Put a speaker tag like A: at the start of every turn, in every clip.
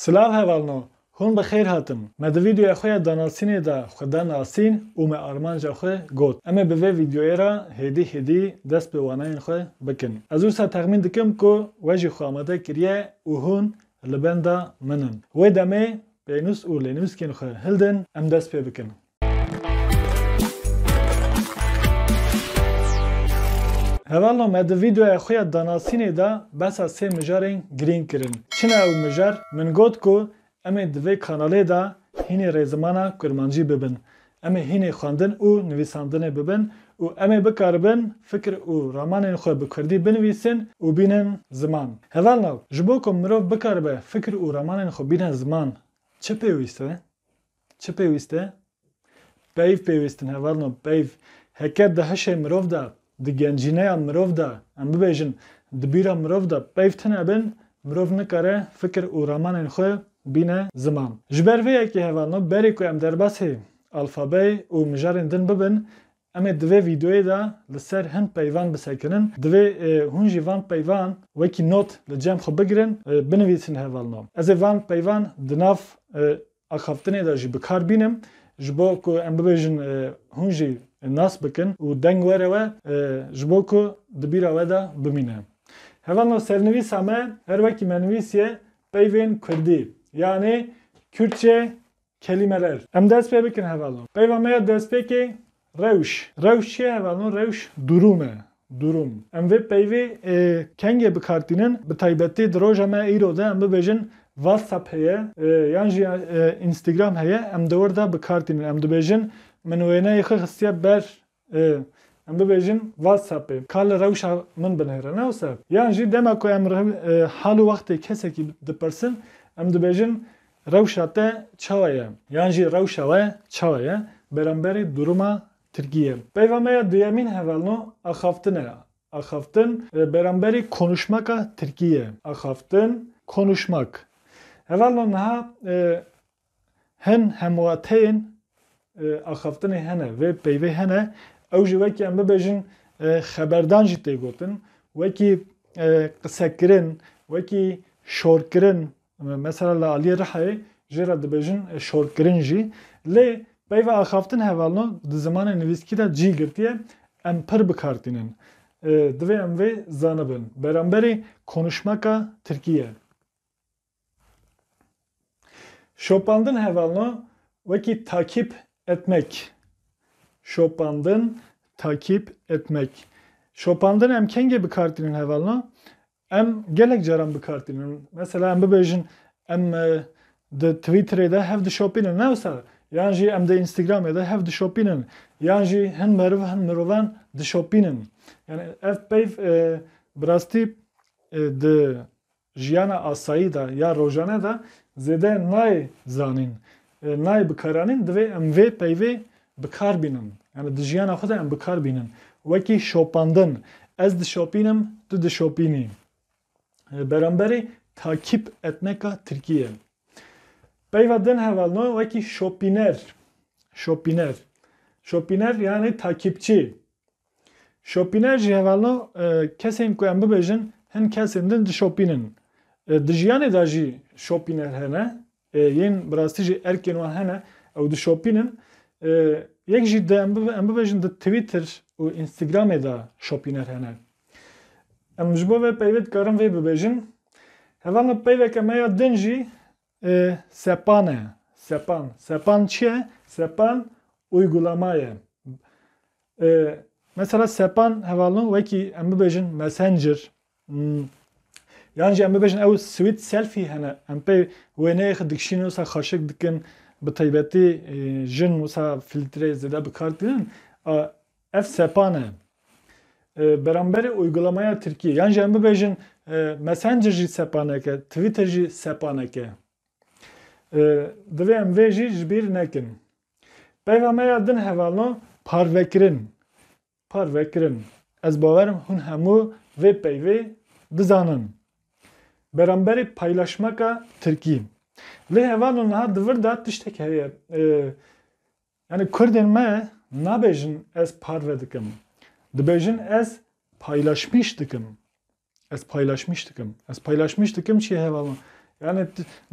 A: Silav hevalno, hûn bi xêr hatin. Me di vîdeoya xwe ya danasînê de xwe da nasîn û me armanca xwe got. Em ê bi vê vîdeoyê re hêdî hêdî dest bi wanayên xwe bikin. Ez wisa texmîn dikim ku we jî xwe amade kiriye û hûn li benda min in. Wê demê pênûs û lênûskên xwe hildin em dest pê bikin. Hevalno me di vîdeoya xwe ya danasînê de behsa sê mijarên girîng kirin. Çi ne ew mijar? Min got ku em ê di vê kanalê de hînê rê zimana kurmancî bibin. Em ê hînê xwendin û nivîsandinê bibin û em ê bikaribin fikir û ramanên xwe bi kurdî binivîsin û bînin ziman. Hevalno, ji bo ku mirov bikaribe fikir û ramanên xwe bîne ziman, çi pêwîst e? Çi pêwîst e? Peyv pêwîst in hevalno peyv. Heke di hişê mirov de, di gencîneya mirov de, em bibêjin di bîra mirov de peyv tune bin, mirov nikare fikir û ramanên xwe bîne ziman. Ji ber vê yekê hevalno berê ku em derbasî alfabeyê û mijarên din bibin, Em ê di vê vîdeoyê de li ser hin peyvan bisekinin. Divê hûn jî van peyvan wekî not li cem xwe bigirin, binivîsin hevalnam. Ez ê van peyvan di nav axaftinê de jî bi kar bînim ji bo ku em bibêjin hûn jî nas bikin û deng were we ji bo ku di bîra we de bimîne. Hevalno sernivîsa me her wekî me nivîsiye peyvên kurdî yanê Kürtçe Kelîmeler Em dest pê bikin hevalno Peyva me ya destpêkê Rewş Rewş çi ye hevalno Rewş durum e Durum Em vê peyvê ê kengê bikar tînin bi taybetî di roja me îro de em bibêjin Whatsapp heye yan jî Instagram heye em di wir de bikar tînin em dibêjin Min wêneyê xwe xistiye ber Ê, em bibêjin WhatsAppê ka li rewşa min binêre, ne wisa? Yan jî dema ku em re hal û wextê kesekî dipirsin, em dibêjin rewşa te çawa ye? Yan jî rewşa we çawa ye beramberî durûma Tirkiyê? Peyva me ya duyemîn hevalno axaftin e. Axaftin beramberî konuşmaka Tirkiyê. Axaftin, konuşmak. Hevalno niha Hin hemwateyên axaftinê hene, vê peyvê hene, ew jî wekî em bibêjin xeberdan jî tê gotin, wekî qisekirin, wekî şorkirin, mesela li aliyê Rihayê jê re dibêjin şorkirin jî. Lê peyva axaftin hevalno di zimanê nivîskî de cî girtiye, em pir bi kar tînin. Divê em vê zanibin. Beramberî konuşmeka tirkî ye. Şopandin hevalna wekî takîp etmek. Şopandin takîp etmek. Şopandin em kengê bikartînin hevalna? Em gelek caran bikartînin. Mesela em bibêjin em e, di Twitterê de hev dişopînin ne wisa? Yan jî em di Instagramê de hev dişopînin. Yan jî hin meriv hin mirovan dişopînin. Yani ev peyv e, bi rastî e, di jiyana asayî de ya rojane de zêde nayê zanîn, nayê bikaranîn divê em vê peyvê bikar bînin. Yanî di jiyana xwe de em bikar bînin. Wekî şopandin, ez dişopînim, tu dişopînî. Beramberî takîp etneka tirkî ye. Peyva din hevalno wekî şopîner. Şopîner. Şopîner yanî takîpçî. Şopîner jî hevalno kesên ku em bibêjin hin kesên din dişopînin. Di jiyanê de jî şopîner hene yên bi rastî jî erkên wan hene ew dişopînin. Yek jî di em bibêjin di Twitter û Instagramê de şopîner hene. Em ji bo vê peyvê dikarin vê bibêjin. Hevalno peyveke me ya din jî Sepan e. Sepan. Sepan çi ye? Sepan uygulama ye. Mesela sepan hevalno wekî em bibêjin Messenger yan jî em bibêjin ew swît selfî hene. Em pê wêneyê xwe dikişînin wisa xweşik dikin bi taybetî jin wisa fîltreyê zêde bi kar tînin. Ev sepan e. Beramberê uygulamaya Tirkiyê. Yan jî em bibêjin Messenger jî sepanek e, Twitter jî sepanek e. Divê em vê jî ji bîr nekin. Peyva me ya din hevalno parvekirin. Parvekirin. Ez bawerim hûn hemû vê peyvê dizanin. Beramberê paylaşmeka Tirkî. Lê hevalno niha di vir de tiştek heye. Yanî kurdên me nabêjin ez parve dikim. Dibêjin ez paylaşmîş dikim. Ez paylaşmîş dikim. Ez paylaşmîş dikim çi hevalin. Yani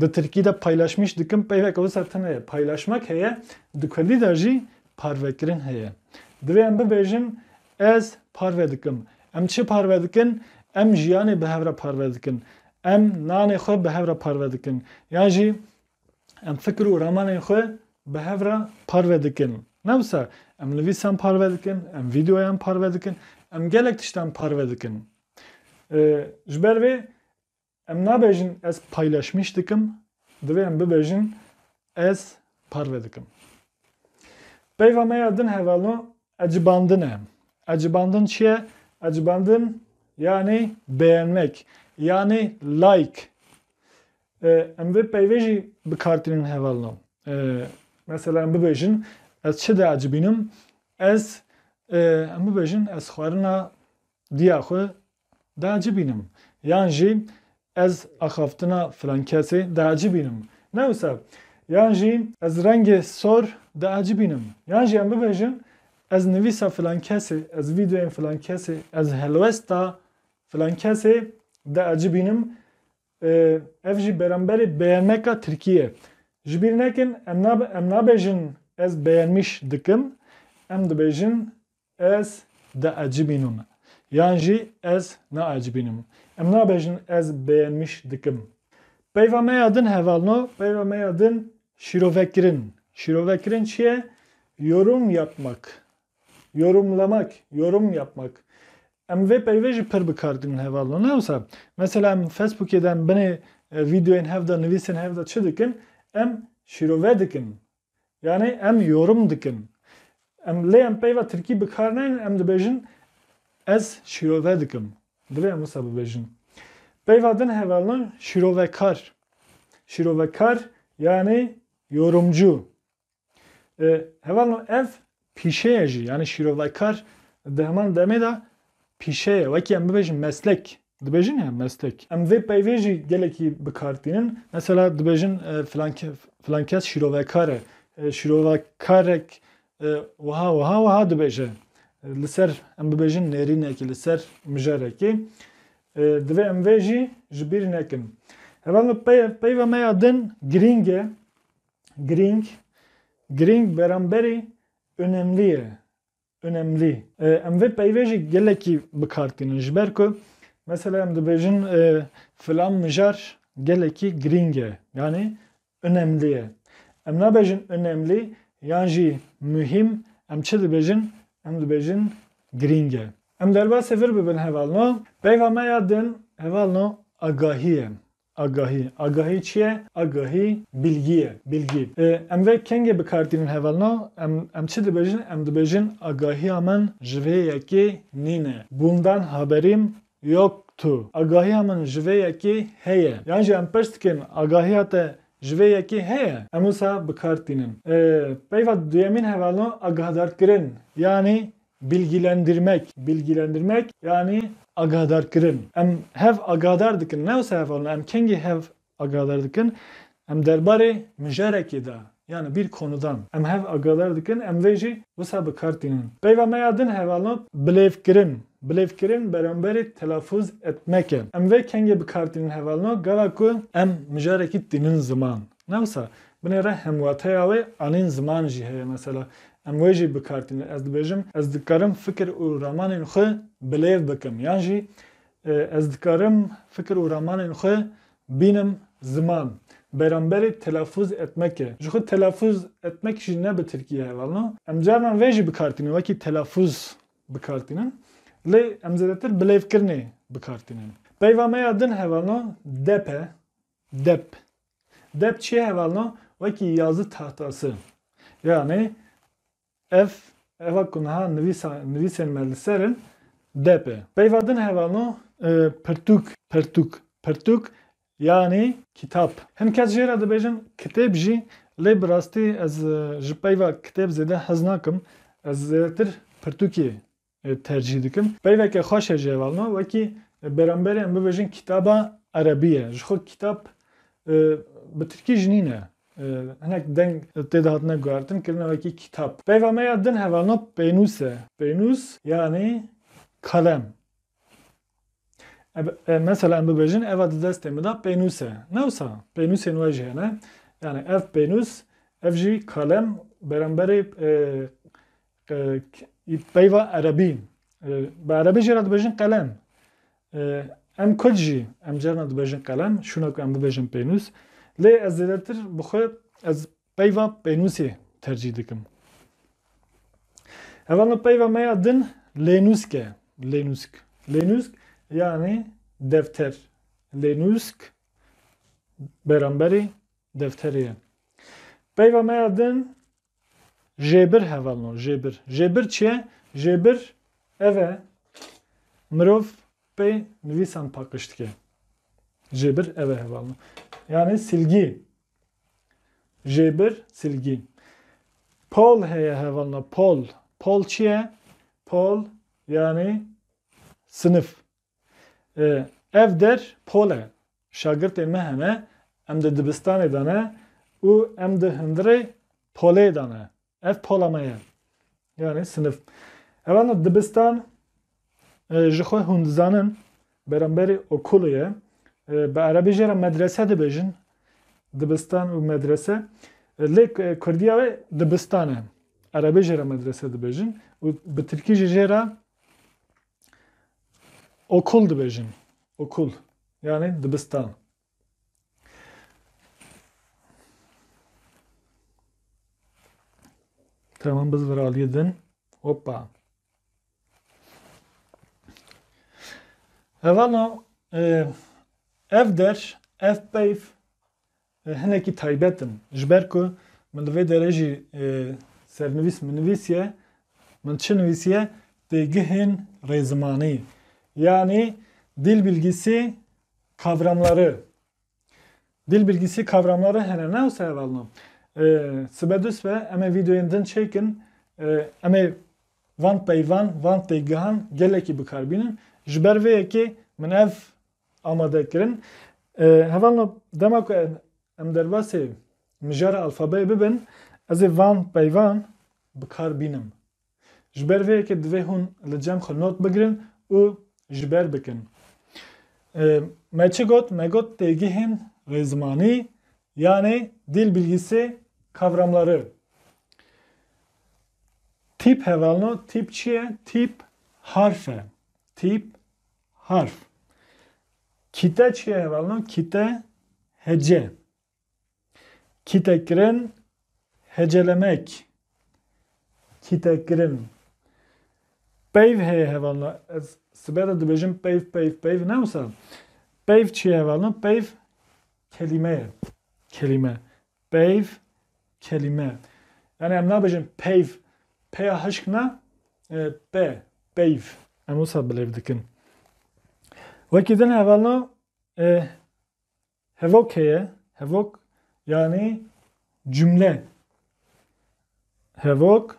A: di Tirkî de paylaşmîş dikim peyveke wisa tune ye. Paylaşmak heye, di Kurdî de jî parvekirin heye. Divê em bibêjin ez parve dikim. Em çi parve dikin? Em jiyanê bi hev re parve dikin. Em nanê xwe bi hev re parve dikin. Yan jî Em fikir û ramanên xwe bi hev re parve dikin. Ne wisa, em nivîsan parve dikin, em vîdeoyan parve dikin, em gelek tiştan parve dikin. Ji ber vê em nabêjin ez paylaşmîş dikim, divê em bibêjin ez parve dikim. Peyva me ya din hevalno ecibandin e. Ecibandin çi ye? Ecibandin yani beğenmek, yani like. Em vê peyvê jî bikartînin hevalno. Mesela em bibêjin ez çi diacibînim, ez em bibêjin ez xwarina diya xwe diacibînim yan jî ez axaftina filan kesê diacibînim ne wisa yan jî ez rengê sor diacibînim yan jî em bibêjin ez nivîsa filan kesê, ez vîdeoyên filan kesê, ez helwesta filan kesê diacibînim Ev jî beramberê beyaneka Tirkiyê ye. Ji bîr nekin em nabêjin ez beyanmîş dikim, em dibêjin ez diecibînim yan jî ez naecibînim. Em nabêjin ez beyanmîş dikim. Peyva me ya din hevalno, peyva me ya din şîrovekirin. Şîrovekirin çi ye? Yorum yapmak. Yorumlamak, yorum yapmak. Em vê peyvê jî pir bikar dînin heval no. Ne wisa mesela em Facebookê de em binê vîdeoyên hev de nivîsên hev de çi dikin? Em şîrove dikin. Yanê em yorum dikin. Em lê em peyva tirkî bikar naynin em dibêjin ez şîrove dikim. Divê em wisa bibêjin. Peyva din heval no şîrovekar. Şîrovekar yanê yorumcu. Heval no ev pîşeye jî yanî şîrovekar di heman demê de pîşeye wekî em bibêjin meslek dibêjin ya meslek. Em vê peyvê jî gelekî bikartînin. Mesela dibêjin filan kes şîrovekar e. Şîrovekarek wiha wiha wiha dibêje. Li ser em bibêjin nêrînekê li ser mijarekê. Divê em vê jî ji bîr nekin. Heval no peyva me ya din girîng e. Girîng, girîng beramberî önemlî ye, önemlî. Em vê peyvê jî gelekî bi kar tînin ji ber ku mesela em dibêjin filan mijar gelekî girîng e yanî önemlî ye. Em nabêjin önemlî yan jî muhîm em çi dibêjin em dibêjin girîng e. Em derbasê vir bibin hevalno peyva me ya din hevalno agahî ye. Agahî, agahî çi ye? Agahî bilgî ye, bilgî. Em vê kengê bi kar tînin hevalna, em em çi dibêjin? Em dibêjin agahiya min ji vê yekê nîne. Bundan haberim yoktu. Agahiya min ji vê yekê heye. Yan jî em pers dikin agahiya te ji vê yekê heye? Em wisa bi kar tînin. Peyva duyemîn hevalna agahdar kirin. Yanî Bilgilendirmek, Bilgilendirmek yanî agadarkirin. Em hev agadar dikin. Ne wisa hev alin. Em kengî hev agadar dikin. Em derbarê mijarekê de yanî bir konudan em hev agadar dikin. Em vê jî wisa bi kar tînin. Peyva me ya din hev alin bilêvkirin. Bilêvkirin beramberî telafûz etmek e. Em vê kengê bi kar tînin hev alin gava ku em mijarekî tînin ziman. Ne wisa, binê re hemwateya wê anîn ziman jî heye. Mesela, em wê jî bikar tînin. Ez dibêjim, ez dikarim fikir û ramanên xwe bilêv bikim yan jî ez dikarim fikir û ramanên xwe bînim ziman. Beramberê telafûz etmek e. Jixwe telafûz etmek jî ne bi tirkî ye hevalno. Em carnan vê jî bikar tînin wekî telafûz bikar tînin. Lê em zêdetir bilêvkirinê bikar tînin. Peyva me ya din hevalno, depe, Dep Dep çi hevalna wekî yazı tahtası. Yanê ev eva ku niha nivîsa nivîsên me li ser in dep e. Peyva din hevalna pirtûk. Pirtûk Pirtûk yanê kitap. Hin kes jê re dibêjin kitêb jî lê bi rastî ez ji peyva kitêb zêde hez nakim. Ez zêdetir pirtûkê tercîh dikim. Peyveke xweş e jê ve ma wekî bêramberê em bibêjin kitaba erebî ye. Ji xwe kitap bi tirkî jî nîne. Hinek deng tê de hatine guhertin kirine wekî kitap. Peyva me ya din hevalna pênûs e. Pênûs yanî kalem. Mesela em bibêjin eva di destê min de pênûs e. Ne wisa pênûsên we jî hene. Yanî ev pênûs ev jî kalem bêramberê Peyva erebî bi erebî jê re dibêjin qelem. Em kurd jî em carina dibêjin qelem şûna ku em bibêjin pênûs. Lê ez zêdetir bi xwe ez peyva pênûsê tercîh dikim. Heva min peyva me ya din lênûsk e. Lênûsk. Lênûsk yanî defter. Lênûsk beramberî defterê ye. Peyva me ya din Jêbir hevalno jêbir. Jêbir çi ye? Jêbir ev e mirov pê nivîsan paqiş dike. Jêbir ev e hevalno. Yani silgî. Jêbir silgî. Pol heye hevalno pol. Pol çi ye? Pol yani sınıf. Ev der pol e. Şagirtên me hene, em di dibistanê de ne û em di hundirê polê de ne. Ev pola me ye. Yanî sinif. Evan dibistan ji xwe hûn dizanin beramberî okulê ye. Bi erebî jê re medrese dibêjin. Dibistan û medrese. Lê kurdiya wê dibistan e. Erebî jê re medrese dibêjin û bi tirkî jî jê re Okul dibêjin. Okul. Yani dibistan. Tamam biz viraliyê din. Hoppa. Evano e, ev der, ev peyv, Hinekî taybet in. Ji ber ku min li vê derê jî sernivîs min nivîsiye, min çi nivîsiye? Têgihên rêzimanî yanî dîl bilgîsî kavramları. Dîl bilgîsî kavramları hene ne wisa hevalno. Sibe du sibe em ê vîdeoyên din çêkin, em ê van peyvan, van têgihan gelekî bikar bînin. Ji ber vê yekê min ev amade kirin. Heval me dema ku em derbasê mijara alfabeyê bibin, ez ê van peyvan bi kar bînim. Ji ber vê yekê divê hûn li cem xwe not bigirin û ji ber bikin. Me çi got? Me got têgihên rêzimanî yanê dîl bilgîsê kavramları. Tîp hevalno tîp çi ye? Tîp harf e. Tîp Harf Kîte çiye hevalino kîte hece kîtekirin hecelemek kîtekirin peyv heye hevalino ez sibe de dibêjim peyv peyv peyv ne wisa peyv çiye hevalino peyv kelîme ye kelîme Peyv, kelîme. Yanî em nabêjin peyv, peya hişk na, pe, peyv. Em wisa bilêv dikin. Wekî din hevalna hevok heye, hevok yanî cumle. Hevok,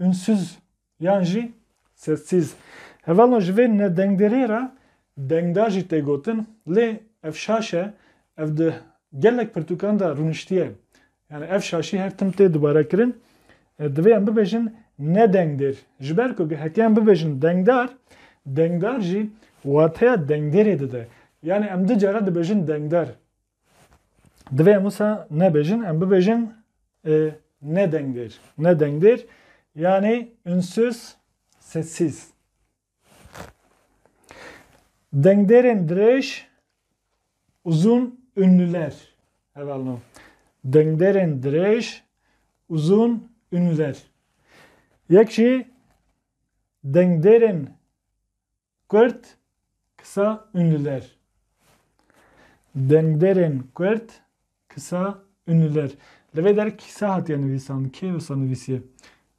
A: Ünsüz yan jî sessiz. Hevalno ji vê nedengderiyê re dengdar jî tê gotin lê ev şaş e, ev di gelek pirtûkan de rûniştiye. Yani ev şaşî her tim tê dubarekirin. Divê em bibêjin nedengdêr. Ji ber ku heke em bibêjin dengdar, dengdar jî wateya dengdêrê dide. Yani em du cara dibêjin dengdar. Divê em wisa nebêjin, em bibêjin e, ne dengdêr. Ne dengdêr yanê ünsüz sessiz. Dengdêrên dirêj uzun ünlüler. Hevalno. Dengdêrên dirêj uzun ünlüler. Yek jî dengdêrên Kurd, kisa ünlüler. Dengderên Kurd, kisa ünlüler. Li vê der kisa hatiye nivîsan. Kê wisa nivîsiye?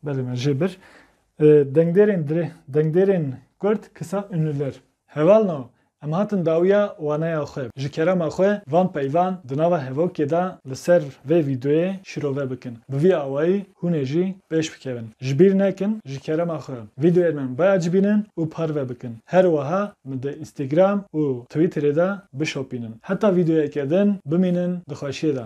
A: Belê me jê bir. Dengderên dirê, dengderên Kurd, kisa ünlüler. Heval na, em hatin dawiya waneya xwe ji kerema xwe van peyvan di nava hevokê de li ser vê vîdeoyê şirove bikin. Bi vî awayî hûn ê jî Pêş bikevin. Ji bîr nekin ji kerema xwe vîdeoyên min biacibînin û parve bikin. Her wiha min di Instagram û Twitterê de bişopînin. Heta vîdeoyeke din bimînin di xweşiyê de.